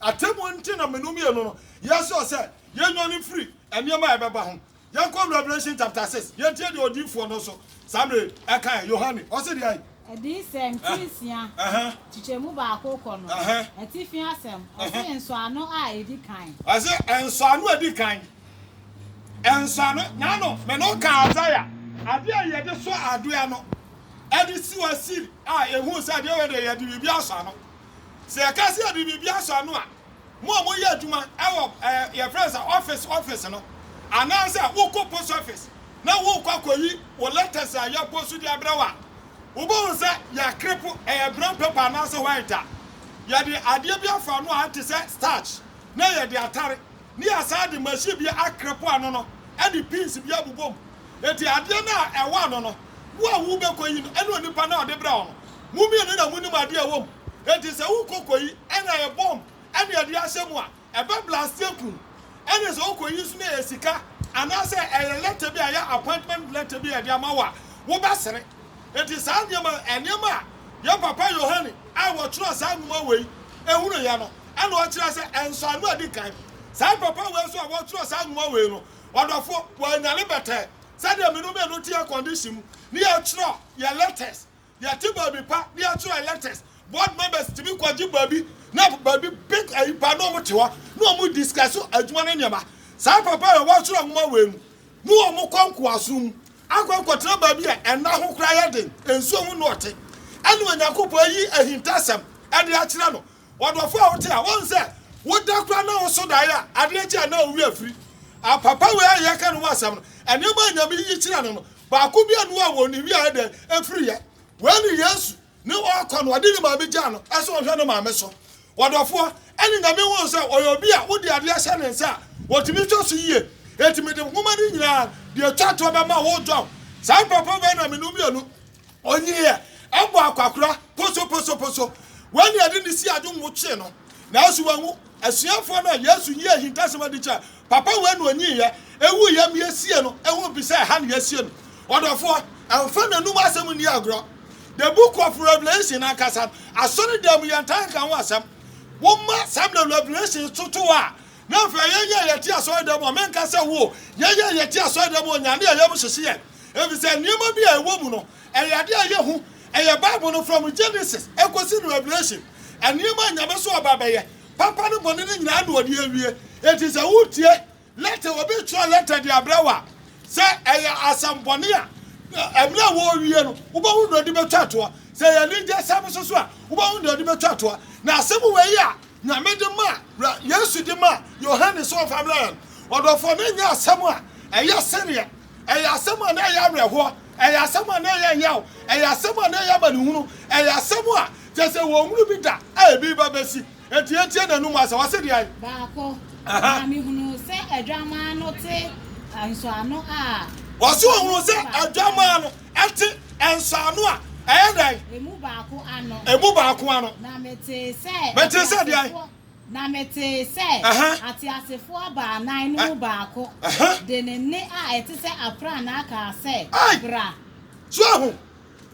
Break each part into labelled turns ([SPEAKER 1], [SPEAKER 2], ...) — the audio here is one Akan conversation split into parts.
[SPEAKER 1] Atemmuo nti na mene mmienu no yɛsɔɔ sɛ yɛnnwane mfiri nneɛma a ɛbɛba ho. Yɛnkɔ Revelation chapter six yɛntie deɛ odiyifoɔ no nso saa mmerɛ yi ɛkaeɛ, Yohane. Ɔse deɛn? Adiyisɛm ti
[SPEAKER 2] nsia, kyekyɛmu baako kɔ no atifi asɛm, ɔse nsɔano a ɛdi kan. Ɔse nsɔano
[SPEAKER 1] a ɛdi kan, nsɔano, n'ano me ne wo kaa Isaiah, adeɛ a yɛde sɔ adeɛ ano, ɛde si hɔ siri a ɛhuu sɛ adeɛ wei deɛ yɛde biribi asɔ ano, Sɛ yɛka sɛ yɛde biribi asɔ ano a, mo a moyɛ adwuma wɔ eh, yɛfrɛ no sɛ office office no, anaasɛ wokɔ post office na worekɔ akɔyi wo letters a yɛapost de abrɛ wo a, wobɛhu sɛ yɛakrepo, ɛyɛ brown paper anaasɛ white a yɛde adeɛ bi afa ano a ɛte sɛ starch na yɛde atare, ne yɛasan de machine bi akrepo ano no de pins bi abobɔ mu. Enti adeɛ no a ɛwɔ ano no, Wo a wobɛkɔ yi no, ɛne onipa no a ɔde brɛɛ wo no, mo mmienu na monim adeɛ a ɛwɔ mu. Enti sɛ wokɔ kɔyi ɛna yɛ bɔmb ɛne ɛde ahyɛ mu a, ɛbɛ blaste akum. Ɛne sɛ wokɔ yi nso na ɛyɛ sika anaasɛ ɛyɛ lɛtɛ bi a ɛyɛ appointment lɛtɛ bi a ɛde ama wo a, wobɛsere. Enti saa nneɛma no, nneɛma a yɛn papa Yohane a ɔtwerɛɛ saa nwoma wei hunuiɛ no, ɛna ɔkyerɛ sɛ nsɔano a ɛdi kan. Saa papa wei nso a ɔtwerɛɛ saa nwoma wei no, ɔdɔfoɔ, wanyane bɛtɛɛ. sɛdeɛ mene mmienu te akɔndehye mu ne yɛtwerɛ yɛ letters yɛte baabi pa ne yɛtwerɛ yɛ letters board members tumi kɔgye baabi na baabi big ayi pa na wɔn te hɔ na wɔn discuss adwuma ne nneɛma saa papa yɛ wɔatwerɛ nwoma wei mu ne wɔn kɔ nkoasom mu akɔ akɔtena baabi a ɛna ho koraa yɛ den nsuo ho na ɔte ɛne onyankopɔn ayi ahintasɛm ɛde akyerɛ no W'adɔfo a wote a wɔn sɛ woda koraa na woso dae a adeɛ kye a na wo werɛ firi apapa wei a yɛka no ho asɛm no, nneɛma a Nyame yiyi kyerɛ no no, baako biara nni hɔ a wɔn wie a ɛyɛ dɛn ɛfiri yɛ. Wei ne Yesu ne ɔɔkɔ no, ɔde ne maame gyaa no sɛ ɔnhwɛ ne maame so. W'adɔfoɔ, ɛne Nyame hu sɛ ɔyɛ obi a wode adeɛ hyɛ ne nsa a ɔtumi hwɛ so yie, enti mede nwoma no nyinaa deɛ ɛtwa toɔ bɛma wo John, saa mpapa wei na menom mmienu, Onyiiɛ, ɛbɔ akwakora, posoposoposo. Wei na yɛde no sii ade nwo kyee no, nanso wanwu. Asuafoɔ no a Yesu yii ahintasɛm adi kyerɛɛ, Papa wei na onyiiɛ, ɛwuiɛ ma yɛsiee no, ɛho mpi sɛ ɛha na yɛasie no. Ɔdɔfoɔ, ɛmfa n'anom asɛm nni agorɔ. The Book of Revelation ankasa no, asɔredan mu yɛntaa nka ho asɛm. Woma Samuel Revelation toto a, Na afei yɛn yɛ a yɛte asɔredan mu a, menka sɛ wo o, yɛn yɛ a yɛte asɔredan mu a, Onyame a ɛyɛ mu hyehye yɛn, efisɛ nneɛma bi a ɛwɔ mu no, ɛyɛ ade a ɛyɛ hu, ɛyɛ Bible no from Genesis kosi no Revelation, nneɛma a Nyamesom aba abɛyɛ, papa ne bɔne no nyinaa na ɔde awie. Enti sɛ wotie lɛtɛ, obi twerɛ lɛtɛ de abrɛ wo a, sɛ ɛyɛ asɛmmɔne a, mmerɛ a wɔrewie no, wobɛhu deɛ ɔde bɛtwa toɔ, sɛ ɛyɛ anigyesɛm nso so a, wobɛhu deɛ ɔde bɛtwa toɔ, na asɛm wei a. Nyame de maa, bra Yesu de maa Yohane sɛ ɔmfa mmrɛ yɛn. Ɔdɔfoɔ, na ɛnyɛ asɛm a ɛyɛ sereɛ, ɛyɛ asɛm a na ɛyɛ awerɛhoɔ, ɛyɛ asɛm a na ɛyɛ yaw, ɛyɛ asɛm a na ɛyɛ amanehunu, ɛyɛ asɛm a kyerɛ sɛ wɔnhunu bi da a ɛreba bɛsi. Enti yɛntie n'anom asɛm. Ɔse deɛn? Baako, na mehunuu
[SPEAKER 2] sɛ Adwammaa no te nsɔano a. Ɔse ɔhunuu sɛ
[SPEAKER 1] Adwammaa no Ɛte nsaano a ɛyɛ dɛn? Emu baako
[SPEAKER 2] ano. Emu baako ano. Na metee
[SPEAKER 1] sɛ.
[SPEAKER 2] Metee sɛ deɛn?
[SPEAKER 1] Na metee
[SPEAKER 2] sɛ. Ateasefoɔ baanan no mu baako. De ne nne a ɛte sɛ aprannaa kaa sɛ, Bra! So ahu?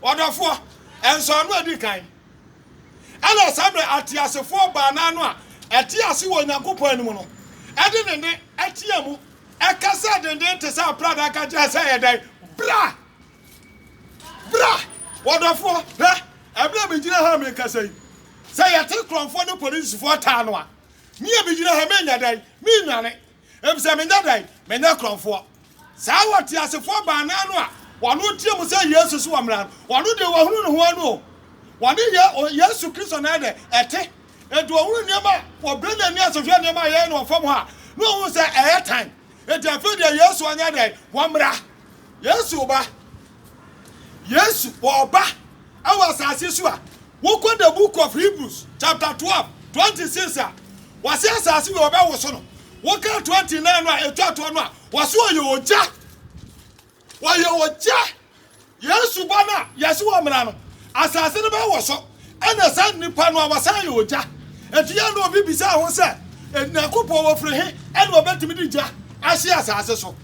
[SPEAKER 1] Ɔdɔfoɔ, nsaano a ɛdi kan. Ɛna saa berɛ ateasefoɔ baanan no a ɛte ase wɔ Onyankopɔn anim no de ne nne teaa mu Ɛkasa denden te sɛ aprada ka kyerɛ sɛ yɛ dɛn? Bra! Bra! Wɔdɔfoɔ, hwɛ, ɛberɛ a megyina ha a merekasa yi, sɛ yɛte korɔmfoɔ ne polisifoɔ taa no a, me a megyina ha yi menyɛ dɛn? Mennwane, efisɛ menyɛ dɛn? Menyɛ korɔmfoɔ. Saa ɔteasefoɔ baanan no a wɔn teɛ mu sɛ Yesu so wɔ mmara no, wɔn deɛ wɔahunu ne ho ano o. Wɔne Yesu Kristo na ɛyɛ dɛn? Ɛte. Enti ɔhunuu nneɛma a wɔbrɛ n'ani ase hwɛ nneɛma a yɛyɛ no wɔ fam hɔ a, na ɔhu sɛ ɛyɛ tan. Enti afei deɛ Yesu anyɛ dɛn? Wammra. Yesu ba. Yesu wɔ ɔba wɔ asase so a, wokɔ the book of Hebrews chapter twelve twenty six a, wɔse asase wei wɔbɛwoso no. Woka twenty nine no a ɛtwa toɔ no a, wɔse ɔyɛ ogya. Wɔyɛ ogya. Yesu ba no a, yɛse wɔ mmara no, asase no bɛwɔ so, ɛna saa nnipa no a wɔsan yɛ ogya. Ɛti a na obi bisaa ho sɛ, Nyankopɔn wɔ firi he ɛna ɔbɛtumi de gya ahye asase so?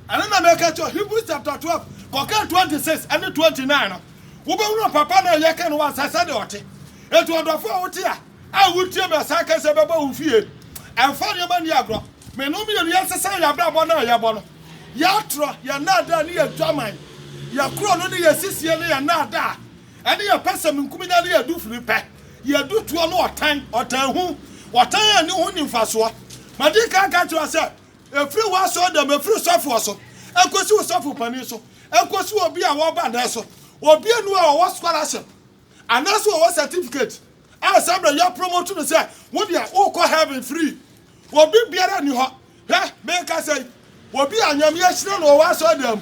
[SPEAKER 1] Ɛno na mɛka kyerɛ Hebrews chapter 12 kɔka 26 ɛne 29 no. Wobɛhunu papa no a yɛka no wɔ asase sɛdeɛ ɔte. Ɛti ɔdɔfo a wote a. A Wotie me a, saa kɛse yi bɛba wo fie. Ɛmfa nneɛma nni agorɔ. Me ne wo mmienu yɛnsesa yɛn abrabɔ no a yɛbɔ no, yɛn atorɔ, yɛn nnaadaa ne yɛn dwaman, yɛn korɔno ne yɛn sisie ne yɛn nnaadaa, ɛne yɛn pɛsɛmenkominya ne yɛn dufiripɛ, yɛn dutoɔ ne ɔtan, ɔtanhu, ɔtan a ɛne ho nni mfasoɔ. Madi kan aka akyerɛ wo sɛ, ɛfiri w'asɔredɛm, ɛfiri sɔfoɔ so, ɛkɔsi wo sɔfo panin so, ɛkɔsi obi a wɔba nnɛ so, obianu a ɔwɔ scholarship, Anaasɛ wɔwɔ certificate a saa berɛ yɛ promote no sɛ wo deɛ wokɔ heaven free. Obi biara nni hɔ, hwɛ merekasa yi, obi a Nyame ahyira no ɔwɔ asɔredan mu.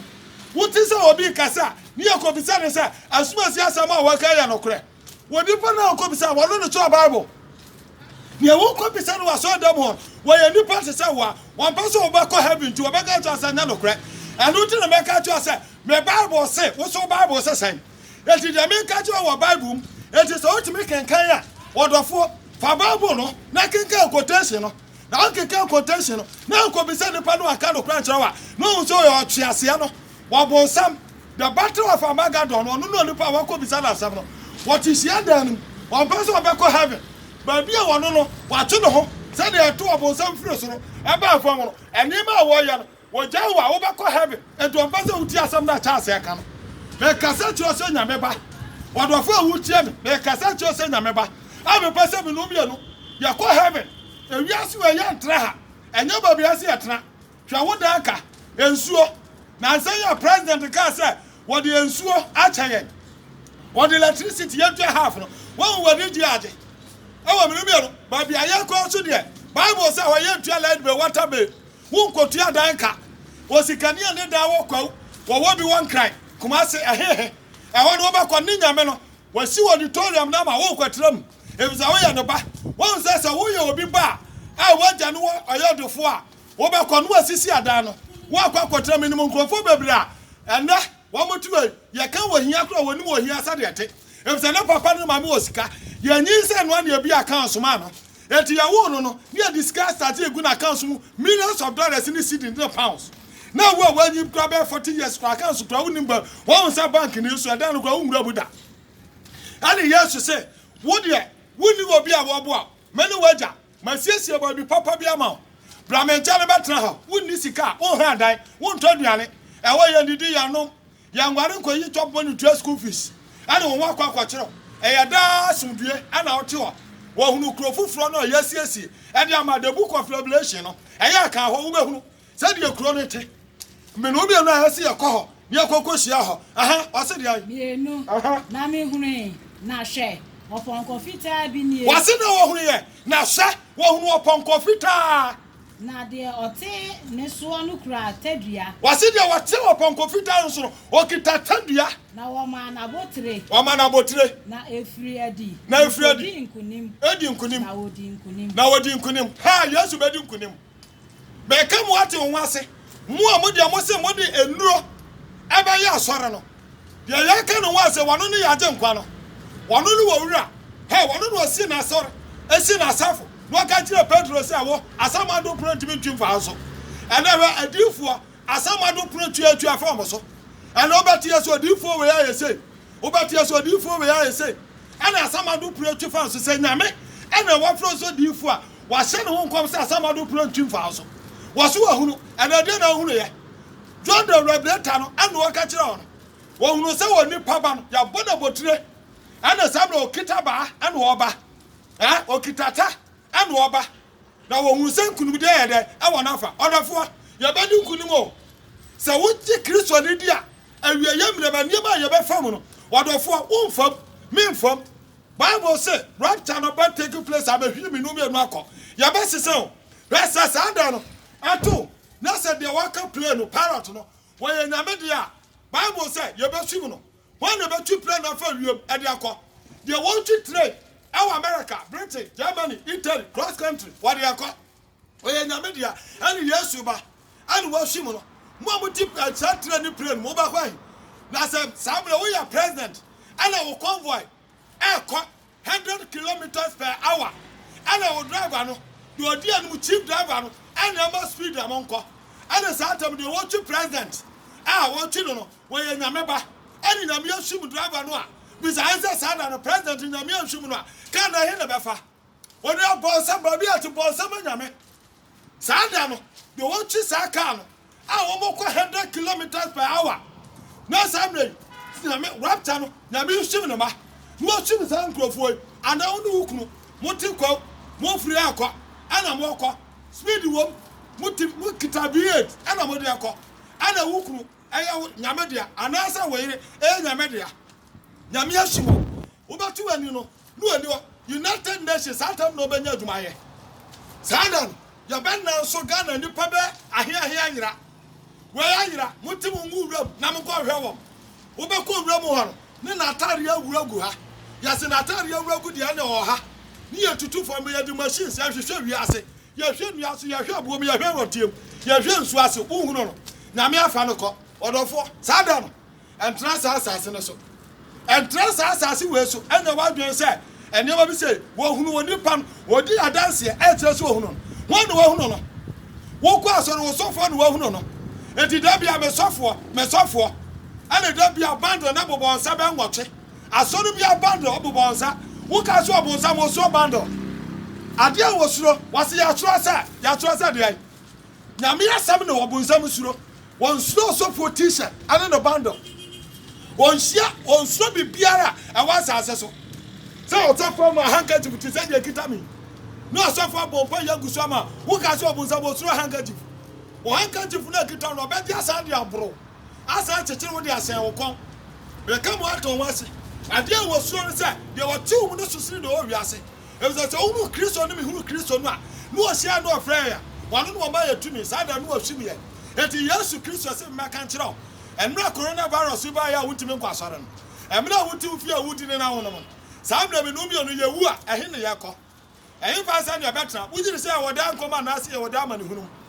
[SPEAKER 1] Wote sɛ obi rekasa a, ne yɛkɔbisa no sɛ, Asomasi asɛm a wɔka yi yɛ nokorɛ? Onipa no a wokɔbisa no, ɔno na ɔkyerɛ Bible. Deɛ wokɔbisa no wɔ asɔredan mu hɔ no, wɔyɛ nnipa te sɛ wo a wɔmpɛ sɛ wobɛkɔ heaven nti wɔbɛka akyerɛ wo sɛ nyɛ nokorɛ. Ɛno nti na mɛka akyerɛ wo sɛ me Bible se, wo nso wo Bible se sɛn? Enti deɛ meka kyerɛ wo wɔ Bible mu, enti sɛ wotumi kenkan a, ɔdɔfoɔ, fa Bible no na kenkan quotation no, na wokenkan quotation no, na nkɔbisa nipa no a ɔka nokorɛ nkyerɛ wo a, na wohu sɛ ɔyɛ ɔtweaseɛ no, ɔbonsam, the battle of Armageddon no, ɔno ne onipa a wɔakɔbisa no asɛm no. Wɔte hyiadan no mu, wɔmpɛ sɛ wɔbɛkɔ heaven, baabi a ɔno no, watwe ne ho, sɛdeɛ ɛto ɔbonsam firi soro baa fam no, nneɛma a wɔyɛ no, Wɔgyae wo a, wobɛkɔ heaven. Enti wɔmpɛ sɛ wotie asɛm no a Charles reka no. Mekasa kyerɛ wo sɛ Nyame ba. W'adɔfo a wotie me, mekasa kyerɛ wo sɛ Nyame ba. A mepɛ sɛ me no mmienu yɛkɔ heaven. Ewiase wei yɛntra ha. Ɛnyɛ baabi a ɛsɛ yɛtra. Hwɛ wo dan ka, nsuo. Nansa yi a president kaa sɛ wɔde nsuo akyɛ yɛn. Wɔde electricity yɛntua half no. Woahu w'ani gye agye. Ɛwɔ me no mmienu. Baabi a yɛkɔ nso deɛ, bible sɛ hɔ yɛntua light bill, water bill. Wonkotua dan ka. Osikani a ne dan wɔ Kwawu, wɔwɔ bi wɔ Nkran, Kumase, ɛhehe. Ɛhɔ no wobɛkɔ, ne Nyame no, wasi ɔditorium no ama woakɔtra mu, efisɛ woyɛ ne ba. Woahu sɛ sɛ woyɛ obi ba a, a w'agya no wɔ ɔyɛ ɔdefoɔ a, wobɛkɔ na wasisi adan no, woakɔ akɔtra mu. Menim nkurɔfoɔ bebree a ɛnnɛ wɔn te wei yɛ ka wɔ hia koro a wɔnim wɔ hia sɛdeɛ ɛte efisɛ ne papa ne maame wɔ sika yɛ nyin sɛ noa ne ebi akan somaa no eti yɛ woo no no ne yɛ de sika asate egu na kan so mu millions of dollars ne cedis ne pounds na awu a wɔanyin kura bɛyɛ forty years kura kan so kura wonim ba wɔn nsa bank ne nso ɛdan no kura wo nwura mu da ɛne yesu se wo deɛ wonni obi a wɔboa me ne wagya Masiesie baabi papa bi ama wo. Bra me nkyɛn bɛtena ha. Wonni sika a, wonhra dan, wontɔ aduane. Ɛhɔ, yɛnnidi, yɛnnom, yɛnguare nkoyi tɔ bɔ ne tua school fees ne wo ho akɔ akɔkyerɛw. Ɛyɛ daa asomdwoe na wote hɔ. Wɔhunu kuro foforɔ no a yɛasiesie de ama The Book of Revelation no, ɛyɛ a kan hɔ, wobɛhunu Sɛdeɛ kuro no te. Mmenoo mmienu a ɛsɛ yɛkɔ hɔ na yɛkɔkɔhyia hɔ. Aha, ɔse deɛn? Mmienu. Aha. Na
[SPEAKER 2] mehunui, na hwɛ, ɔpɔnkɔ fitaa bi nie. Ɔse na wɔhunuiɛ,
[SPEAKER 1] na hwɛ, wɔhunuu ɔpɔnkɔ fitaa. Na deɛ
[SPEAKER 2] ɔte ne soɔ no kura tadua. Ɔse deɛ ɔte
[SPEAKER 1] ɔpɔnkɔ fitaa no so no, ɔkita tadua. Na wɔmaa no
[SPEAKER 2] abotire. Wɔmaa no abotire. Na
[SPEAKER 1] ɛfiri adi.
[SPEAKER 2] Na ɛfiri adi. Ɔdi nkonim. Ɛdi nkonim. Na ɔdi nkonim. Na
[SPEAKER 1] ɔdi nkonim. Ha, Yesu bɛdi nkonim. Meka mo ate wo ho ase, mo a mo deɛ mo se mo de nnuro ɛbɛyɛ asɔre no, deɛ yɛka ne ho ase, wɔno ne yɛn agyenkwa no, wɔno ne wɔ wura, hɛ, wɔno na ɔsi n'asɔre, ɛsi n'asafo, na ɔka kyerɛ Petro sɛ, wo, asam ado pono ntumi ntwi mfa wo so, ɛnɛ hwɛ, adiyifoɔ, asam ado pono tua tua fa wɔn so, ɛnɛ wobɛteɛ sɛ odiyifoɔ wei ayɛ sei, wobɛteɛ sɛ odiyifoɔ wei ayɛ sei, ɛna asam ado pono twi fa nso, sɛ Nyame ɛna wafrɛ nso diyifoɔ a, Wɔahyɛ ne ho nkɔm sɛ asamado pira ntwi mfaa so. Wɔse wahunu, ɛnna ɛdeɛn na ɔhunuiɛ? John de Rebleta no ano ɔka kyerɛɛ wɔn. Wɔhunuu sɛ onipa ba no, yɛabɔ no abotire, ɛnna saa berɛ ɔkita abaa na ɔreba. Ɛ, ɔkita ata na ɔreba. Na wɔhunuu sɛ nkonimdie yɛ dɛ wɔ n'afa. Ɔdɔfoɔ, yɛbɛdi nkonim o! Sɛ wogye Kristo no di a, awieeɛ mmerɛ ba nneɛma a yɛbɛfa mu no, ɔdɔfoɔ, womfam, memfam. Bible se rapture no bɛ take place a bɛhwie minu mmienu akɔ. Yɛbɛsesa o. Hwɛ sɛ saa da no ɛto o na sɛ deɛ waka plane no pilot no wɔyɛ Nyame deɛ a, Bible sɛ yɛbɛsum no. Hwan na ɛbɛtwi plane no afa wiem de akɔ? Deɛ wɔtwi train ɛwɔ America, Britain, Germany, Italy, cross country wɔde akɔ. Ɔyɛ Nyame dea, ɛne Yesu ba, ɛne wɔahyem no. Mo a mote Kyerɛkyerɛ ne Plane mu, wobɛkɔ ahe? Na sɛ saa berɛ woyɛ President, ɛna wo convoy ɛɛkɔ hundred kilometres per hour, ɛna wo driver no, deɛ ɔdi anim, chief driver no, ɛna ɛma speed a monkɔ. Ɛne saa tam deɛ wɔtwe President a wɔtwe no no, wɔyɛ Nyame ba, ɛne Nyame ahyem driver no a, bisa he sɛ saa da no President Nyame anhyem no a, car no he na ɛbɛfa? Wɔde abɔnsam ba bi a ɔte bɔnsam anyame. Saa da no, deɛ wɔtwe saa kaa no a wɔkɔ hundred kilometres per hour na saa mmerɛ yi nyame rapture no nyame nhyim ne mma na wɔhyim saa nkurɔfoɔ yi anaa wo ne wo kunu mote kwaw mofiri rekɔ ɛna morekɔ speed wom mote mokita beard ɛna mode rekɔ ɛna wo kunu ɛyɛ wo nyame dea anaasɛ wo yere ɛyɛ nyame dea nyame ahyi wɔn wobɛto w'ani no No ani hɔ United Nations saa tam na ɔbɛnya adwuma ayɛ saa da no yɛbɛ nan so Ghana nnipa bɛ ahe ahe ayera wei ayera mo te mo ngu wuram na mo kɔ hwɛ wɔm wobɛ kɔ wuram hɔ no ne n'ataareɛ awura gu ha yɛse n'ataareɛ awura gu deɛ ne ɔha ne yɛ tutu fam yɛde machines yɛhwehwɛ wiase yɛhwɛ nnua so yɛhwɛ abuom yɛhwɛ rɔteam yɛhwɛ nsuo ase wohunu no nyame afa no kɔ ɔdɔfoɔ saa da no ɛntra saa asase no so. Ɛntra saa asase wei so. Ɛnyɛ w'adwene sɛ nneɛma bi sɛ wɔhunu onipa no, wɔdi adanseɛ ɛkyerɛ sɛ wɔhunu no. Wɔn na wɔhunu no. Wokɔ asɔre, wo sɔfoɔ na wɔhunu no. Enti da bia me sɔfoɔ, me sɔfoɔ. Ɛna da bia bandɔ na bobɔ nsa bɛ nwɔtwe. Asɔre bia bandɔ bobɔ nsa. Woka sɛ ɔbonsam, wosuro bandɔ. Adeɛ a wɔsuro, wɔse yɛatwerɛ sɛ, yɛatwerɛ sɛ deɛn? Nyame asɛm ne ɔbonsam suro. Wɔnsuro ɔsɔfoɔ t-shirt ne ne bundle. Wɔnhyia, wɔnsuro biribiara a ɛwɔ asase so. Sɛ ɔsɔfoɔ ma handkerchief te sɛ deɛ ɛkita me yi, na ɔsɔfoɔ abɔ mpaeɛ agu so ama a, woka sɛ ɔbonsam ɔsuro handkerchief? Wo handkerchief no a ɛkita wo no, ɔbɛgye asan de aboro wo, asan akyekyere wo de ahyɛn wo kɔn. Meka mo ato ho ase, adeɛ a wɔsuro ne sɛ, deɛ ɔte wo mu no so sene deɛ ɔwɔ wiase. Efisɛ sɛ wohunu Kristo ne mehunu Kristo no a, ne ɔhyiae ne ɔfrɛɛ yɛn, ɔno na ɔmaa yɛn tumi, saa da no wahwim yɛn. Enti Yesu Kristo se memmɛka nkyerɛ wo, mmerɛ a coronavirus yi baeɛ a wontumi nkɔ asɔre no, mmerɛ a wote wo fie a wodi ne na wonom no, saa mmerɛ me ne wo mmienu yɛwu a, ɛhe ne yɛkɔ? Ɛhefa sɛdeɛ ɛbɛtena, wogye di sɛ yɛwɔ daa nkwa mu anaase yɛwɔ daa amanehunu mu?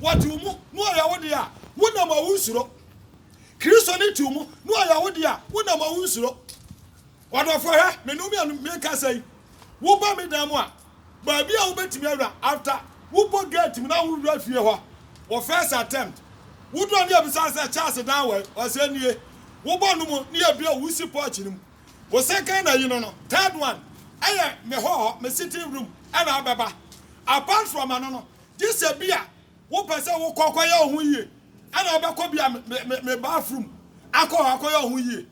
[SPEAKER 1] Wɔte wo mu, na wɔyɛ wo dea, wonam a wonsuro. Kristo no te wo mu, na wɔyɛ wo dea, wonam a wonsuro. Ɔdɔfoɔ, hwɛ, me ne wo mmienu mekasa yi, woba me dan mu a, baabi a wobɛtumi awura, after wobɔ gate mu na wowura fie hɔ, wo first attempt, woduru a ne yɛbisa wo sɛ, Charles dan wɔ he? Ɔsɛ, nie. Wobɔ no mu, ne yɛbue, wosi porch no mu. Wo second ayi no no, third one, ɛyɛ me hɔ hɔ, me sitting room, ɛna wobɛba. Apart from ɛno no, Gye sɛ bi a wopɛ sɛ wokɔ akɔyɛ wo ho yie, ɛna wobɛkɔ bi a me me me bathroom akɔ hɔ akɔyɛ wo ho yie.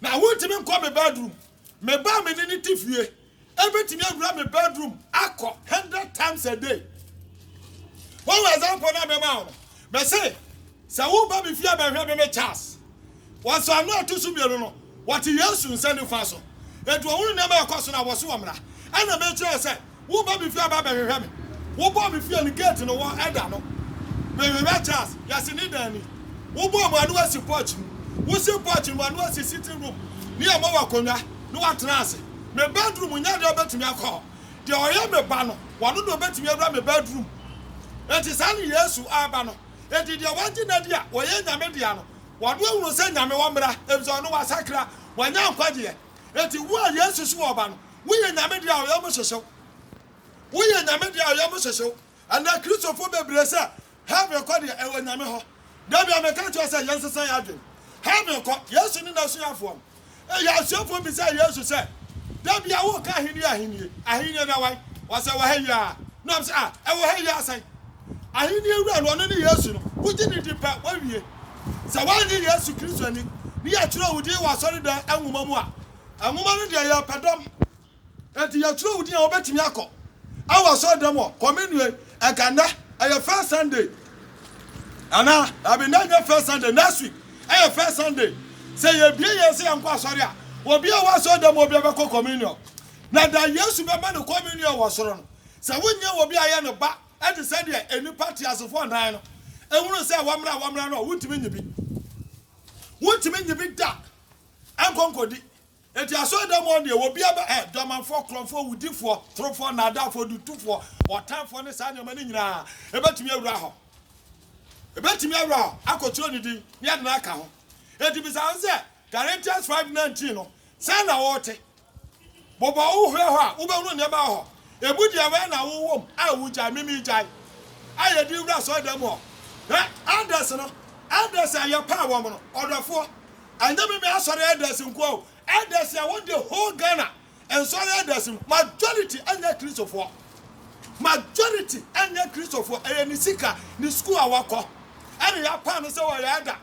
[SPEAKER 1] Na wontumi nkɔ me bedroom. Me ba a me ne no te fie ebetumi awura me bedroom akɔ hundred times a day. Wɔn example na mɛma wo no, Mese, sɛ woreba me fie abɛhwɛ me ne Charles. Wɔ nsɔano a ɛto so mmienu no, wɔte Yesu nsa nifa so. Enti wɔhunu nneɛma a ɛkɔ so no a, wɔse wɔmmra. Ɛnna mekyerɛɛ sɛ woreba me fie aba abɛhwehwɛ me. Wobɔɔ me fie no geeti no wɔ ɛda no. Mehwehwɛ Charles, yɛse ne dan ni. Wobɔɔ mu ano asi porch mu. Wosi porch no mu ano asi sitting room, ne yɛmma wo akonnwa, na woatena ase. Me bedroom nyɛ deɛ wobɛtumi akɔ hɔ. Deɛ ɔyɛ me ba no, ɔno na ɔbɛtumi awura me bedroom. Enti saa ne Yesu aba no. Enti deɛ wagye no adi a ɔyɛ Nyame dea no, ɔno ahunu sɛ Nyame wɔ mmra, efisɛ ɔno wasakra, wanya nkwagyeɛ. Enti wo a Yesu so ɔba no, woyɛ Nyame dea a ɔyam hyehye wo. Woyɛ Nyame dea a ɔyam hyehye wo. Ɛnnɛ, Kristofo bebree sɛ heaven kɔ deɛ, ɛwɔ Nyame hɔ. Dabia, meka nkyerɛ wo sɛ yɛnsesa yɛn adwene. Heaven kɔ. Yesu ne N'asuafoɔ no. Eyi asuafoɔ bisaa Yesu sɛ, Dabia, woka Ahennie, Ahennie, Ahennie no ɛwai? Ɔsɛ, Ɛwɔ ha yi ara. Na wɔbisa, Ah, ɛwɔ ha yi ara sɛn? Ahennie Wura no, ɔno ne Yesu no. Wogye no di pɛ, woawie. Sɛ woannye Yesu Kristo anni, ne yɛtwerɛ wo din wɔ asɔredan nwoma mu a, nwoma no deɛ, yɛrepɛ dɔm. Enti yɛtwerɛ wo din a wobɛtumi akɔ awɔ asɔredɔm hɔ kɔ me nua yi ɛka nnɛ ɛyɛ first sunday anaa abi nnɛ nyɛ first sunday next week ɛyɛ first sunday sɛ yɛbie yɛn sɛ yɛnkɔ asɔre a obi a wɔ asɔredɔm obi a bɛkɔ communion na da yesu bɛma no communion wɔ soro no sɛ wonyɛ obi a yɛ no ba ɛte sɛ deɛ nnipa teasefoɔ nan no ɛhunu sɛ wɔmmra wɔmmra no a wontumi nyi bi wontumi nyi bi da ɛnkɔnkɔdi Enti asɔredɔm hɔ deɛ, obiara bɛ, ɛ, dwamanfoɔ, korɔnfoɔ, wudifoɔ, torofoɔ, nnaadaafoɔ, dutofoɔ, ɔtanfoɔ ne saa nneɛma no nyina ara, ɛbɛtumi awura hɔ. Ɛbɛtumi awura hɔ, akɔtwerɛ ne din, ne ade no aka ho. Enti bisa ho sɛ, Galatians five nineteen no, sɛn na wote? Bobɔ wo hwɛ hɔ a, wobɛhunu nneɛma wɔ hɔ. Ebu deɛ wɛn na wo wom a wo gyae me me gyae a yɛ de wura asɔredan mu hɔ hwɛ elders no elders a yɛ paa wɔn no ɔdɔfoɔ ɛnyɛ me me asɔre elders nkoa o elders a wɔ de whole Ghana nsɔre elders no majority ɛnyɛ kristofoɔ majority ɛnyɛ kristofoɔ ɛyɛ ne sika ne school a wa kɔ ɛna yɛ apaa no sɛ ɔyɛ elder.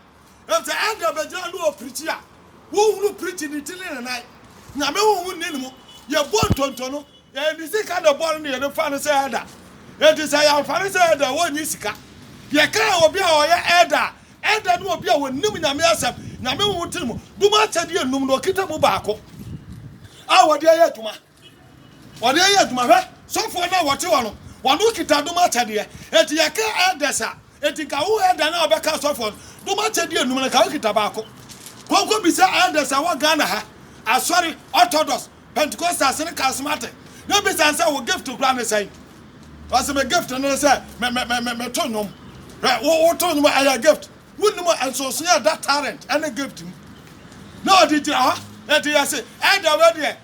[SPEAKER 1] Enti ɛnde bɛgyina ne wɔ pirikyi a wonhunu pirikyi ne ti ne ne nan. Nyame honhom nni ne mu. Yɛbɔ ntonto no, ɛyɛ ne sika na ɛbɔ no na yɛde fa no sɛ ɛlda. Enti sɛ yɛamfa no sɛ ɛlda a, wonnye sika. Yɛka obi a ɔyɛ ɛlda a, ɛlda ne obi a onim Nyame asɛm, Nyame honhom te ne mu, dom akyɛdeɛ nnum na ɔkita mu baako a ɔde ayɛ adwuma. Wɔde yɛ adwuma. Hwɛ, sɔfoɔ no a wɔte hɔ no, wɔn ho kita dom akyɛdeɛ. Enti yɛka elders a, enti nka wo elder no a ɔbɛka asɔfoɔ no, dom akyɛdeɛ nnum no, nka wo kita baako. Kɔnkɔ bisa elders a wɔ Ghana ha, asɔre, Orthodox, Pentecostals ne Charismatic, na bisa no sɛ wo gift koraa ne sɛn? Ɔse me gift no ne sɛ me, me, me, me, me to nnwom. Hwɛ, wo, wo to nnwom a, ɛyɛ gift. Wonnim nsonsonoeɛ a ɛda talent ne gift mu. Na ɔde gyina hɔ. Enti yɛse elder wei deɛ,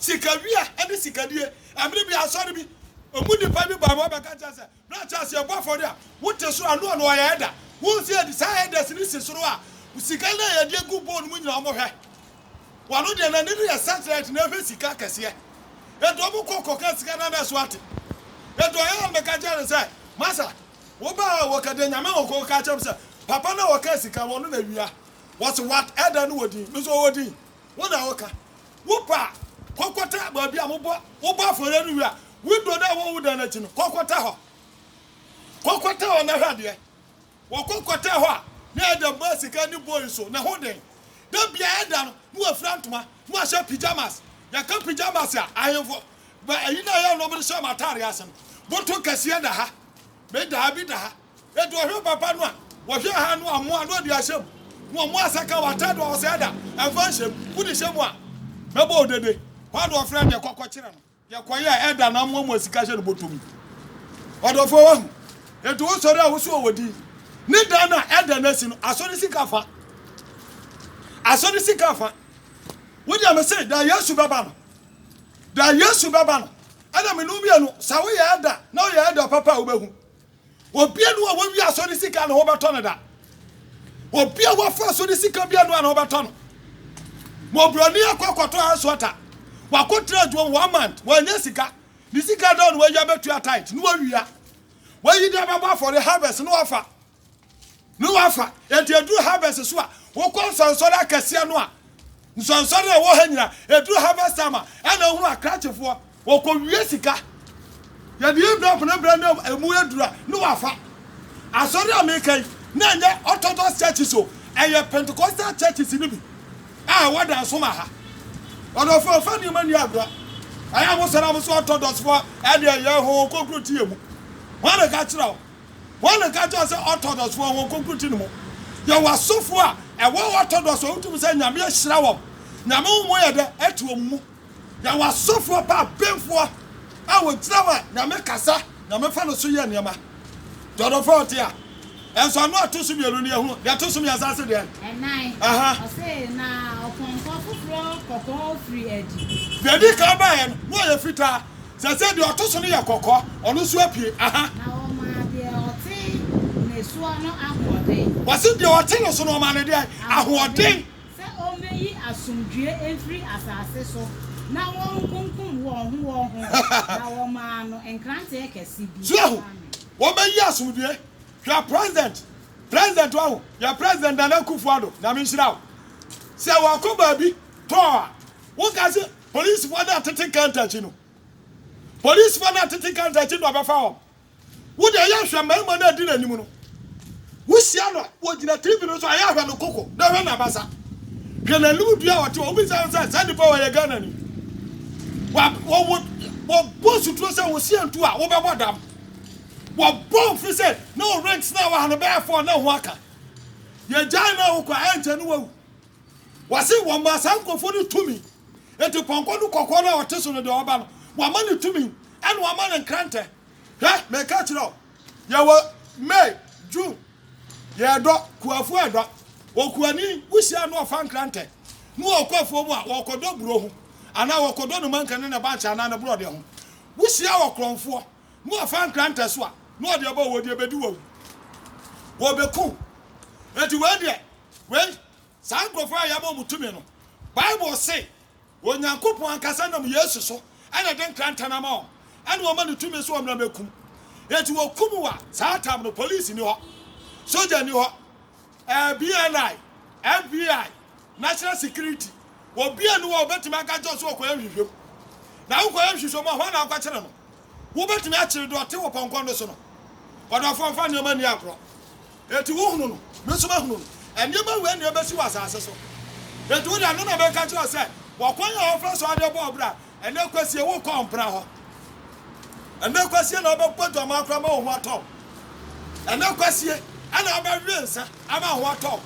[SPEAKER 1] Sikawia ne sikadie. Ɛmere bi asɔre bi mu nipa bi bae ma ɔbɛka kyerɛ sɛ, Bra kyɛ sɛ yɛbɔ afɔre a, wote soro a, Noa na ɔyɛ ɛda. Wohu sɛ yɛde saa ɛdas no si soro a, sika no a yɛde agu bowl no mu nyinaa wɔn hwɛ. Wɔn ano deɛ n'ani no yɛ searchlight na ɛhwɛ sika akɛseɛ. Ɛde wɔn kɔ kɔka sika no a na ɛso ate. Ɛde ɔyɛ a na meka kyerɛ no sɛ, Masa, wo baa a wɔka deɛ Nyame ho kɔka kyerɛ me sɛ, papa no a wɔka sika ho no na awia. Wɔse what? Ɛda no wɔ din? Me nso ɔwɔ din? Wo na woka. Wo pɛ a, kɔkɔtɛ baabi a mobɔ wobɔ afɔreɛ no wie a, window no a ɛwɔ wo dan no akyi no, kɔkɔtɛ hɔ. Kɔkɔtɛ hɔ na hwɛ adeɛ. Wɔkɔkɔtɛɛ hɔ a, na Adam baa sika ne bowl so, ne ho den. Da biara ɛda no, na wafira ntoma, na wahyɛ pyjamas. Yɛka pyjamas a, ahemfo ba ayi no a ɛyɛ nnɔm no hyɛ wɔn ataadeɛ ase no, boto kɛseɛ da ha, me da ha, bi da ha. Enti wɔhwɛ papa no a, wɔhwɛ ɛha no a, mmoa no ɔde ahyɛ mu, na wɔn asaka wɔn atade a ɔsɛe da, ɛmfa nhyɛ mu, wode hyɛ mu a, bɛbɔ wo dede. Hɔ ara na wɔfrɛ no deɛ kɔ kɔkyerɛ no deɛ kɔyɛ a ɛda no amoamoa sika hyɛ no bɔtɔ mu. Ɔdɔfoɔ wahu. Enti wosɔre a woso wɔ din. Ne dan a ɛda no asi no, asɔ ne sika fa. Asɔ ne sika fa. Wodeɛ me se, da Yesu bɛba no, da Yesu bɛba no, ɛna mene wo mmienu, sɛ woyɛ ɛda na woyɛ ɛda papa a wobɛhu. Obi anu a wɔawi asɔ ne sika na wɔbɛtɔ no da. Obi a wɔafa asɔ ne sika bi anu a na wɔbɛtɔ no. Mɔbrɔni akɔ akɔtɔ house water. Wakɔtena adwuma mu one month, wanya sika. Ne sika da no wawia bɛtua tithe na wawia. Wayi de abɛbɔ afɔre harvest na wafa. Ne wafa. Enti eduru harvest so a, wokɔ nsɔnsɔre akɛseɛ no a, nsɔnsɔre a ɛwɔ ha nyina, eduru harvest time a, ɛna wohunu akrakyefoɔ. Wɔkɔwie sika. Yɛde envelope no brɛ no a, ɛmu aduru a, ne wafa. Asɔre a meka yi, na ɛnyɛ Orthodox churches o, ɛyɛ Pentecostal churches no bi a ɛwɔ Dansoman ha. Ɔdɔfoɔ, mfa nneɛma nni agorɔ. Ɛyɛ a mosɔre a, mo se Orthodoxfoɔ ɛdeɛ, yɛn ho, wɔkɔkuro te yɛn mu. Hwan na ɛka kyerɛɛ wo? Wɔn na ɛka kyerɛw sɛ Ortodɔks wɔ wɔn kronkroti no mu. Yɛwɔ asɔfo a ɛwɔ Ortodɔks a wotumi sɛ Nyame ahyira wɔn, Nyame honhom yɛ dɛ ɛte wɔn mu. Yɛwɔ asɔfo a pɛ abenfoɔ a wɔgyina hɔ a Nyame kasa, Nyame fa no so yɛ nneɛma. Dɔdɔfoɔ a ɔte a, ɛnso ano a ɛto so mmienu no yɛhunu, deɛ ɛto so mmiɛnsa ase deɛn? Ɛnan. Aha. Ɔse na ɔpɔnkɔ foforɔ kɔkɔɔ firi adi. Deɛ ɛdi kan baeɛ no, na ɔyɛ fitaa. Sɛ sɛ deɛ ɔto so no yɛ kɔkɔ, ɔno nso apue. Aha. Na ɔma deɛ ɔte ne soɔ no ahoɔden. Wɔse deɛ ɔte ne so no, ɔma no deɛn? Ahoɔden. Sɛ ɔmmɛyi asomdwoeɛ mfiri asase so na wɔnkunkum wɔn ho wɔn ho, na wɔmaa no nkranteɛ kɛse bi. So ahu? Wɔbɛyi asomdwoeɛ. Hwɛ President, President wahu? Yɛn President Nana Akufo-Addo, Nyame nhyira wo. Sɛ wakɔ baabi tɔɔ a, woka se Polisifo no a tete counter akyi no. Polisifo no a tete counter akyi no abɛfa wɔn. Wo deɛ yɛ hwɛ mmarima no a edi n'anim no. Wohyia no a, ogyina TV no so a, yɛ hwɛ no koko na hwɛ n'abasa. Hwɛ n'anim dua a ɔte hɔ. Wobisa no sɛ, saa nipa wei yɛ Ghanani? Wa, wɔ, wɔ, wɔbɔ suturo sɛ wo hyia ntu a, wobɛbɔ dam. Wɔbɔ mfiri sɛ na wo rings no a wɔ ha no bɛyɛ four na ho aka. Yɛgyae no a wokɔ a, ɛnkyɛ no wawu. Wɔse wɔmaa saa nkurɔfoɔ no tumi. Enti pɔnkɔ no kɔkɔɔ no a ɔte so no deɛ ɔba no, wɔama no tumi, ɛna wɔama no nkrantɛ. Hwɛ, mereka akyerɛ wo, yɛwɔ May, June, yɛredɔ, kuafoɔ redɔ. Okuani, wohyia no a ɔfa nkrantɛ, na ɔkɔ afuo mu a, ɔrekɔdɔ buro ho, anaa ɔrekɔdɔ ne manka ne ne bankye anaa ne borɔdeɛ ho. Wohyia ɔkorɔmfoɔ, na ɔfa nkrantɛ so a, na ɔde aba a, ɔde bɛdi wo awu. Wɔbɛku wo. Enti wei deɛ, Wei, saa nkurɔfoɔ a yɛama wɔn tumi no, Bible se, Onyankopɔn ankasa nam Yesu so na ɛde nkrantɛ no ama wɔn, ɛna wɔma no tumi sɛ wɔmmra mmɛkum. Enti wɔkum wo a, saa tam no, polisi nni hɔ, sogya nni hɔ, ɛɛ, BNI, FBI, National Security, obiara nni hɔ a ɔbɛtumi aka kyerɛ wo sɛ ɔkɔyɛ nhwehwɛmu. Na wokɔyɛ nhwehwɛmu a, hwan na wokɔkyere no? Wobɛtumi akyere dɔte wo pɔnkɔ no so no. Ɔdɔfoɔ mfa nneɛma nni agorɔ. Enti wohunu no, me nso mahunu no. Nneɛma wei na ɛbɛsi wɔ asase so. Enti wo deɛ, ɛno na meka kyerɛ wo sɛ, Bɔ kwan a wɔfa so de bɔ ɔbra. Ɛnnɛ kwasie, wokɔ mpena hɔ. Ɛnnɛ kwasie na wobɛbɔ dwamaa koraa ma wo ho atɔ wo. Ɛnnɛ kwasie na wobɛwe nsa ama wo ho atɔ wo.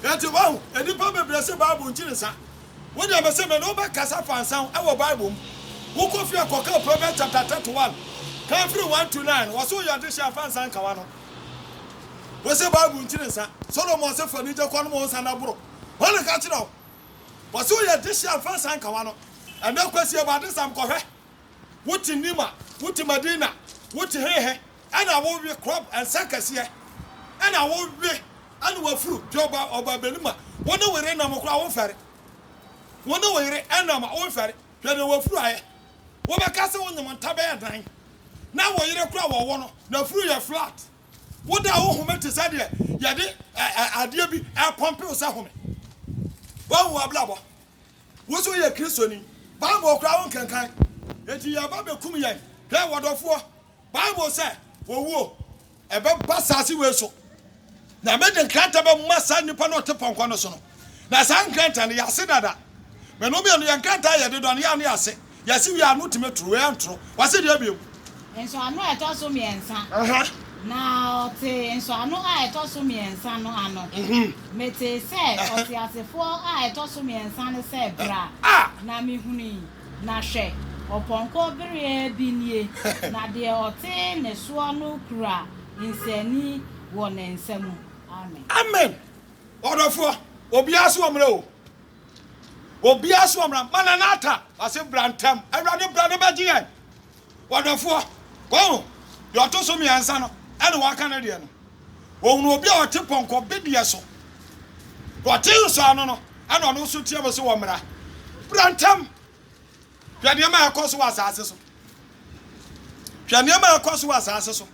[SPEAKER 1] Enti wahu, nnipa bebree se Bible nkyiri nsa. Wo deɛ mese me ne wo bɛkasa fa nsɛm ho ɛwɔ bible mu wo kɔ fie a kɔ kan proverbs chapter thirty one kan firi one to nine wɔse wo yɛ adehyeɛ a fa nsa nka w'ano wo se bible nkyiri nsa solomon se fa anigye kɔ nom wo nsa na boro hwan na ɛka kyerɛ wo wɔse wo yɛ adehyeɛ a fa nsa nka w'ano ɛnɛ kwasi ɛbɔ adesam kɔhwɛ Wo te nim a, wo te Madina, wo te hehe, ɛna wo we krɔb nsa kɛseɛ, ɛna wo we ɛna wafuru deɛ ɔba ɔba bɛnum a, wo ne wo yere nam koraa wo nfɛre, wo ne wo yere ɛnam a wo nfɛre, hwɛ deɛ wafuru ayɛ, wo bɛka sɛ wo nyem nta bɛyɛ dan, na wo yere koraa wɔwɔ no nafuru yɛ flat, wo da wo home te sɛ deɛ yɛde ɛ ɛ adeɛ bi ɛpɔmpe wo sɛ home, wahu abrabɔ, Wo nso woyɛ Kristoni. Bible koraa wonkenkan. Enti yɛreba bekum yɛn. Hwɛ, wɔdɔfoɔ, Bible sɛ, Owuo, ɛbɛba asaase wei so, na mede nkrantɛ bɛma saa nipa no a ɔte pɔnkɔ no so no, na saa nkrantɛ no, yɛase dada. Mene wo mmienu, yɛn nkrantɛ a yɛde dɔ no, yɛ a na yɛase. Yɛse wie a ano tumi toro, wei antoro. Wase deɛ biom. Nsɔano a ɛtɔ
[SPEAKER 2] so mmiɛnsa. Aha. Na ɔtee nsɔano a ɛtɔ so mmiɛnsa no ano. Mhm. Metee sɛ Aha. ɔteasefoɔ a ɛtɔ so mmiɛnsa no sɛ bra, A! na mehunui, na hwɛ, ɔpɔnkɔ bereɛ bi nie, na deɛ ɔte ne soɔ no kura nsɛani wɔ ne nsa mu. Amen. Amen. Ɔdɔfoɔ, obiara so ɔmmerɛ o. Obiara so ɔmmra. Maranatha! Ɔse, Bra ntɛm. Awurade, bra na bɛgye yɛn. Wɔdɔfoɔ, wahu deɛ ɔto so mmiɛnsa no ɛna waka ne deɛ no. Ɔhunuu obi a ɔte pɔnkɔ bedeɛ so. Deɛ ɔte nsɔano no ɛna ɔno nso team se, Ɔmmra. Bra ntɛm. Hwɛ nneɛma a ɛrekɔ so wɔ asase so. Hwɛ nneɛma a ɛrekɔ so wɔ asase so.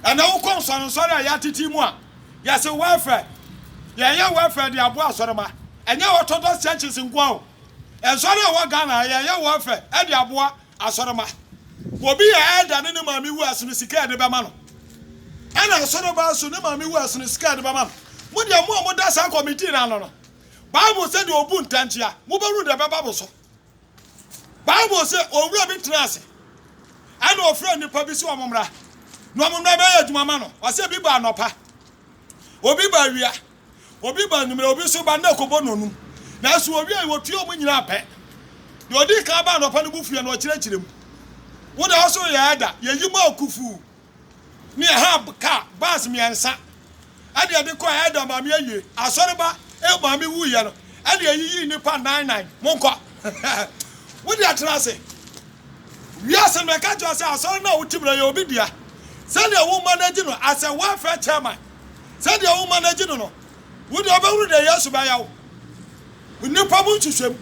[SPEAKER 2] Ɛnna wokɔ nsɔrensɔre a yɛatete mu a, yɛse welfare. Yɛyɛ welfare de aboa asɔremma. Ɛnyɛ Orthodox churches nko ara o. Nsɔre a ɛwɔ Ghana ha, yɛyɛ welfare de aboa asɔremma. Obi yɛ elder ne ne maame wu a, ɛsono sika a yɛde bɛma no. Ɛnna asɔremma nso, ne maame wu a, ɛsono sika a yɛde bɛma no. Mo deɛ, mo a moda saa committee no ano no, Bible se deɛ ɔbu ntan tia, mobɛhunu deɛ ɛbɛba mo so. Bible se owura bi tenaa ase, ɛna ɔfrɛɛ nnipa bi se wɔmmra, na wɔmmra mɛyɛ adwuma ma no. Ɔse ebi ba anɔpa, obi ba awia, obi ba anwummerɛ, obi nso ba nna kɔbɔ nnɔnum. Nanso wɔwiei, wɔtuee wɔn nyinaa pɛ. Deɛ ɔdii kan baa anɔpa no bu fuiɛ na ɔkyerɛkyerɛ mu. Wo deɛ wo so yɛ ɛda, yɛyi mu akufuu. ne Ahab kaa bus mmiɛnsa ɛde ɛde kɔɛ ɛda maame awie asɔre ba ɛyɛ maame wu yɛ no ɛde ɛyi yi nipa nine nine mo nkɔ wo de atena ase wiase no ɛka kyerɛ sɛ asɔre no a wo tibira yɛ obi dea sɛdeɛ wo manage no as a welfare chairman sɛdeɛ wo manage no no Wo de wobɛhunu deɛ Yesu bɛyɛ wo. Nnipa mu nhwehwɛmu.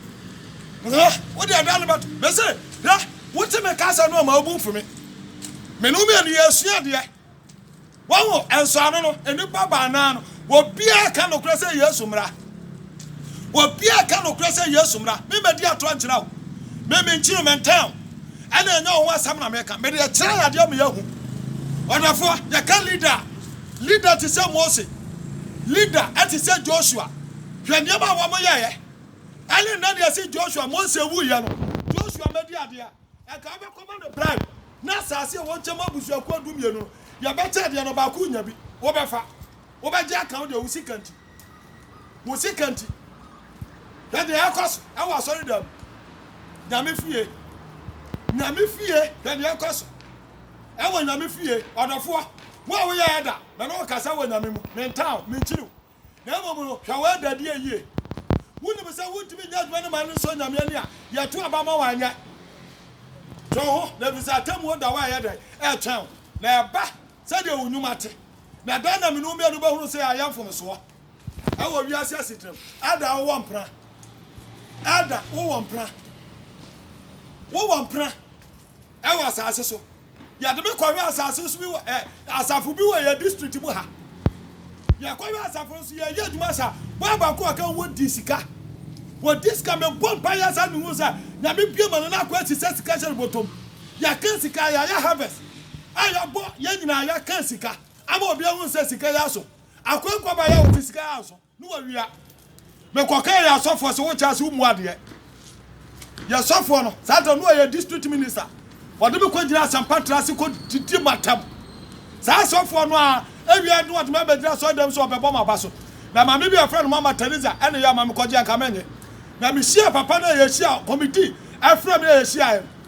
[SPEAKER 2] Hwɛ, wo deɛ da no bɛto. Mese, hwɛ, wote me kasa no a ma wo bo mfu me. Me ne wo mmienu yɛresua adeɛ. Wahu, nsɔano no, nnipa baanan no, obiara ka nokorɛ sɛ Yesu mmra. Obiara
[SPEAKER 1] ka nokorɛ sɛ Yesu mmra. Me mmɛdi atorɔ nkyerɛ wo. Me menkyi wo, mentɛn wo. Ɛna ɛnyɛ wo ho asɛm na meka. Mede kyerɛ yɛn adeɛ ma yɛahu. Ɔdɔfoɔ, yɛka leader a. Leader te sɛ Mose, leader te sɛ Joshua, hwɛ nneɛma a wɔn yɛeɛ. Ɛne nnɛ deɛ se Joshua, Mose wuiɛ no, Joshua mmɛdi adeɛ a, ɛnka wobɛkɔ ma no bribe na asaase a wɔnkyɛ ma abusuakuo du mmienu no, yɛbɛkyɛ adeɛ no baako renya bi, wobɛfa, wobɛgye aka wo deɛ wo sika nti. wo sika nti. Hwɛ deɛ ɛkɔ so ɛwɔ asɔredan mu. Nyame fie. Nyame fie, hwɛ deɛ ɛkɔ so ɛwɔ nyame fie. Ɔdɔfoɔ, wo a woyɛ ɛda, me ne wo kasa wɔ nyame mu. Mentaa wo, menkyiri wo. Na mmom no, hwɛ w'ɛdadie yie. Wonim sɛ wontumi nyɛ adwuma no ma no nsɔ nyame ani a, yɛto aba ma wo anyɛ. Twe wo ho, na ɛfiri sɛ atemmuo da wo a ɛyɛ dɛn? Ɛretwɛn wo, na ɛba sɛdeɛ wo nnwuma te. Na dɛn na me ne wo mmienu bɛhunu sɛ ayɛ mfomsoɔ wɔ wiase asetena mu? Elder, wowɔ mpena. Elder, wowɔ mpena. Wowɔ mpena wɔ asase so. Yɛde me kɔhwɛ asase so bi wɔ ɛ asafo bi wɔ yɛ district mu ha. Yɛkɔhwɛ asafo no so yɛyɛ adwuma saa. Boa baako a ɔka wɔ di sika. Wɔ di sika mebɔ mpa yɛ saa mehu sɛ nyame bie ma no na akɔ asisa sika hyɛ no bɔtɔm. Yɛka sika yɛayɛ harvest. a yɛbɔ yɛn nyinaa yɛka sika ama obi ahu sɛ sika yi aso akwankwabae a ɔte sika yi anso ne wawia mekɔka yɛ asɔfoɔ sɛ wokyɛ ase womu adeɛ yɛ sɔfoɔ no saa ta no ɔyɛ district minister wɔde me kɔgyina asɛmpa tra ase kɔdidi matam saa asɔfoɔ no a awia no wɔde me abɛgyina sɔre dɛm sɛ ɔbɛbɔ ma ba so na maame bi afrɛ no mama Teresa ɛne yɛ ama mekɔgye anka menye na mehyia papa no a yɛhyia committee afrɛ me a yɛhyiaeɛ no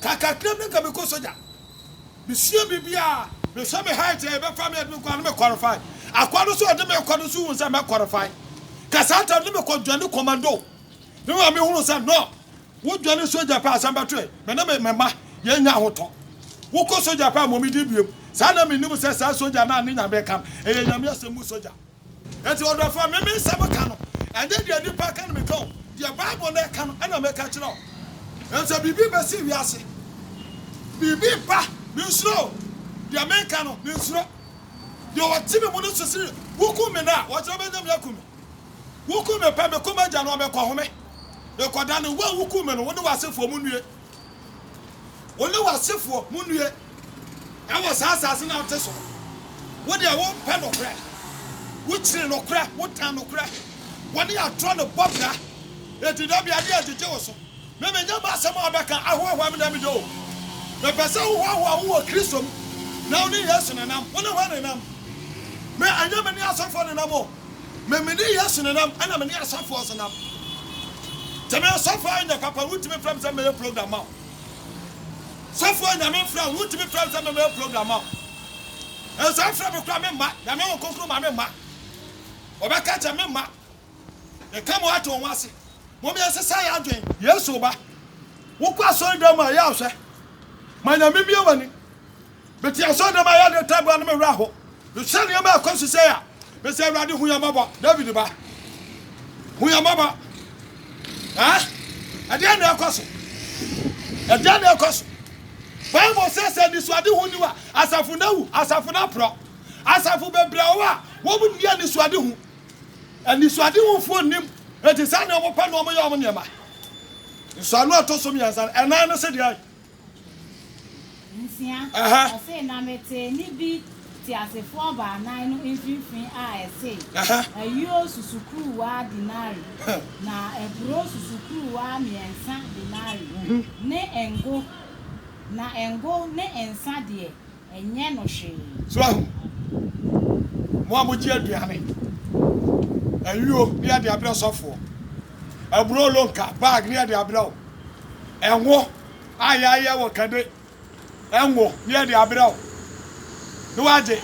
[SPEAKER 1] Ka kakra na nka mekɔ sogya. Mesua biribi a, mehwɛ me height a ɛbɛfa me ɛde me kɔ a na me qualify. Akoa no nso a ɔde me kɔ no nso hu sɛ mɛ qualify. Ka saa tam na mekɔ dwane commando. Me maame hunu sɛ no, wo dwane sogya pɛ asɛm bɛtoɛ. Me ne me mma yɛnya ahotɔ. Wokɔ sogya pɛ a mmomidi biom. Saa na menim sɛ saa sogya no a ne nyame ka no, ɛyɛ nyame asɛm mu sogya. Enti ɔdɔfoɔ, me me nsɛm ka no, ɛnyɛ deɛ nnipa ka na meka o, deɛ Bible no ka no na meka kyerɛ wo. Ɛfiri sɛ biribi bɛsi wiase, biribi reba, mensuro o, deɛ meka no, mensuro. Deɛ ɔte me mu no suro sɛ wokum me nnɛ a, ɔkyena ɔbɛnya me akum me. Wokum me pɛ, mekɔ m'Agya no hɔ, mekɔhome, mekɔdane. Wo a wokum me no, wo ne w'asefoɔ monnue. Wo ne w'asefoɔ monnue wɔ saa asase no a wote so. Wo deɛ, wompɛ nokorɛ. Wokyiri nokorɛ, wotan nokorɛ. Wɔne atorɔ no bɔ bra, enti da bi adeɛ agyegye wo so. Me, menya m'asɛm a wobɛka ahoahoa me na meda o. Mepɛ sɛ wohoahoa wo wɔ Kristo mu, na wo ne Yesu nenam. Wo ne hwan nenam? Me, ɛnyɛ me ne asɔfoɔ nenam o. Me mede Yesu ne nam ɛna mene asɔfoɔ so nam Te me sɔfoɔ ayɛ nyɛ papa Wotumi frɛ me sɛ mɛyɛ program ma wo Sɔfoɔ nyame frɛ wo Wotumi frɛ me sɛ mɛyɛ program ma wo Ɛsɛ frɛ me kora me mma Nyame wo kokoro ma me mma Wɔbɛka kyɛ me mma Meka mo ato ho ase Mom yɛ sesa yɛ adwen Yesu ba Wokɔ asɔre dɛm a yɛ ahwɛ Ma nyame bie wani Mete asɔrdan a yɛde taboo ano me werɛ aho. Mehwɛ nneɛma a ɛkɔ so sɛɛ a, mese, Awurade, hu yɛn mmɔbɔ. David ba, hu yɛn mmɔbɔ. Ha? Ɛdeɛn na ɛkɔ so? Ɛdeɛn na ɛkɔ so? Bible sɛ sɛ anisoadehu ni a, asafo no awu, asafo no aporɔ. Asafo bebree a wɔwɔ a, wɔn nni anisoadehu. Anisoadehufoɔ nnim, enti saa na wɔpɛ na wɔyɛ wɔn nneɛma. Nsɔano a ɛtɔ so mmiɛnsa no, ɛnan no se deɛn?
[SPEAKER 2] nsia, ɔse,
[SPEAKER 1] na
[SPEAKER 2] mete nne
[SPEAKER 1] bi
[SPEAKER 2] teasefoɔ baanan no mfimfini a ɛse, Ayuo susukuruwaa dinari, na aburoo susukuruwaa mmiɛnsa dinari, ne ngo, na ngo ne nsa deɛ, Ɛnyɛ no hwee. So ahu?
[SPEAKER 1] Mo a mogye aduane, ayuo ne yɛde abrɛ sɔfoɔ, aburo lonka, bag ne yɛde abrɛ wo, ngo a yɛayɛ wɔ kade ngo ne yɛde abrɛ wo, ne wagye.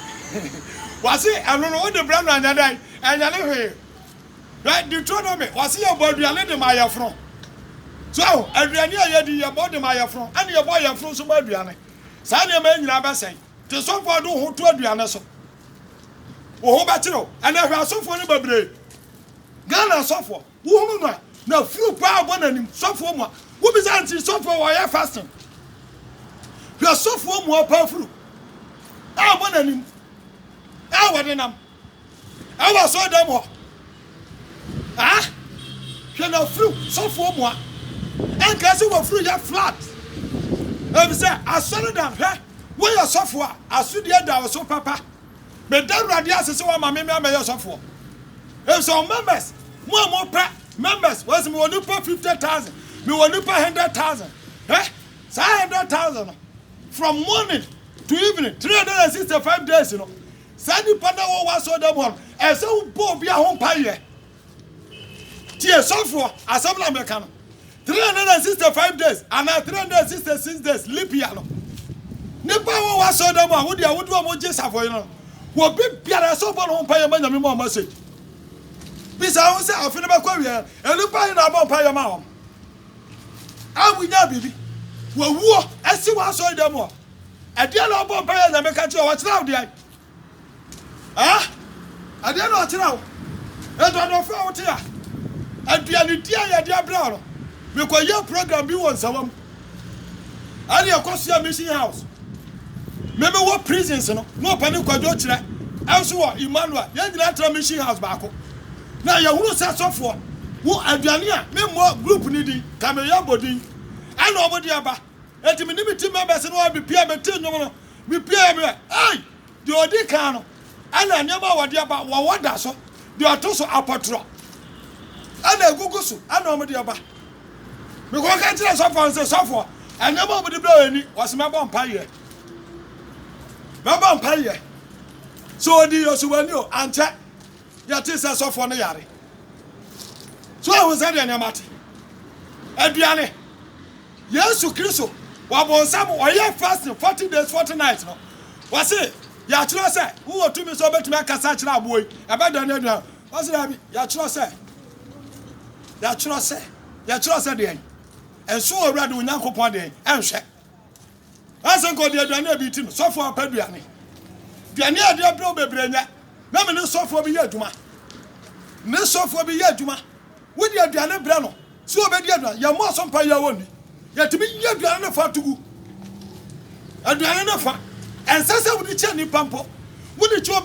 [SPEAKER 1] Wɔse ɛno no wode brɛ no ɛnyɛ dɛn? Ɛnyɛ no hwee. Hwɛ Deuteronomy, wɔse yɛbɔ aduane de ma ayɛforo. So ahu? Aduane a yɛdi yɛbɔ de ma ayɛforo, ɛne yɛbɔ ayɛforo nso ma aduane. Saa nneɛma yi nyinaa bɛsɛe. Te sɛ ɔbɔɔ de wo ho to aduane so. Wo ho bɛkyere wo. Ɛnɛ hwɛ asɔfoɔ no bebree. Ghana asɔfoɔ, wohunu no a, n'afuro paa ɔbɔ n'anim. Sɔfoɔ mua. Wobisa nti sɔfoɔ wɔ ɔyɛ fasting. Hwɛ sɔfoɔ mua ɔpɛ afuro a ɔbɔ n'anim a wɔde nam. ɛwɔ asɔre dɛm hɔ ah hwɛ na furu sɔfoɔ mua ɛnka sɛ wɔ furu yɛ flat ɛbi sɛ asɔre dɛm hwɛ woyɛ sɔfoɔ a asodeɛ da wɔ so papa meda awurade ase sɛ wɔma me mɛyɛ sɔfoɔ ɛbi sɛ members mo a mo pɛ members wɔsi mi wɔ nipa fifty thousand mi wɔ nipa hundred thousand ɛ saa hundred thousand no from morning to evening three hundred and sixty five days no. Saa nnipa no a wɔwɔ w'asɔredan mu hɔ no, ɛsɛ sɛ wobɔ obiara ho mpaeɛ. Tie sɔfoɔ, asɛm na meka no. 365 days anaa 366 days leap year no, nnipa a wɔwɔ w'asɔredan mu a wode a wode wɔn gye safoyere no, wɔbi biara ɛsɛ ɔbɔ ne ho mpaeɛ ma Nyame ma wɔn ase. Bisa ho sɛ afe no bɛkɔ awieɛ, nnipa he na abɔ mpaeɛ ma wɔn a wɔnyaa biribi? Wɔwuo asi w'asɔredan mu hɔ. Ɛdeɛn na ɔbɔɔ mpaeɛ a Nyame ka kyereɛ wo? Ɔkyerɛ wo deɛn? Ɛh? Ɛdeɛn na ɔkyerɛ wo? Nso adɔfoɔ a wote a, aduane di a yɛde abrɛ wo no, mekɔyɛɛ program bi wɔ Nsawa mu. Ɛne ɛkɔsoa Mission House. Me mewɔ prisons no, na ɔpani Kwadwo kyerɛ ɛnso wɔ Emmanuel. Yɛn nyinaa tra Mission House baako. Na yɛhunu sɛ sɔfoɔ, wo aduane a, memmɔ group no din, Kameyɔbo din, ɛna wɔde aba. Enti me ne me team members no ara bepiae betee nnwom no. Mipiae a meyɛ, Ei! Deɛ ɔdi kan no, ɛna nneɛma a wɔde aba, wɔwɔ da so. Deɛ ɔto so, apɔtorɔ, ɛna egugu so, ɛna wɔde aba. Mekɔ ka kyerɛɛ sɔfoɔ no sɛ, Sɔfoɔ, nneɛma a wɔde brɛ yɛn ni. Ɔse, Mɛbɔ mpaeɛ. Mɛbɔ mpaeɛ. Sɛ ɔdii yɛn so wɔ ani o, ankyɛ yɛtee sɛ sɔfoɔ no yare. So ahu sɛdeɛ nneɛma te? Aduane, Yesu Kristo wɔ bonsam ɔyɛ fasting forty days forty nights no wɔse yɛatwerɛ sɛ wowɔ tumi sɛ wobɛtumi akasa akyerɛ aboɔ yi ɛbɛdɛ no aduan wɔse daabi yɛatwerɛ sɛ yɛatwerɛ sɛ yɛtwerɛ sɛ deɛn nso wɔ awurade onyankopɔn deɛn ɛnhwɛ ɛsɛ nka ɔde aduane a ɛbi ti no sɔfoɔ apɛ aduane aduane a ɛde abrɛ wo bebree nyɛ na me ne sɔfoɔ bi yɛ adwuma ne sɔfoɔ bi yɛ adwuma wode aduane brɛ no So obedi aduan? Yɛmmɔ aso mpa yi ara onni. Yɛtumi yi aduan no fa to gu. Aduan no fa. Ɛnsɛ sɛ wode kyɛ nnipa mpo. Wode kyɛ obi.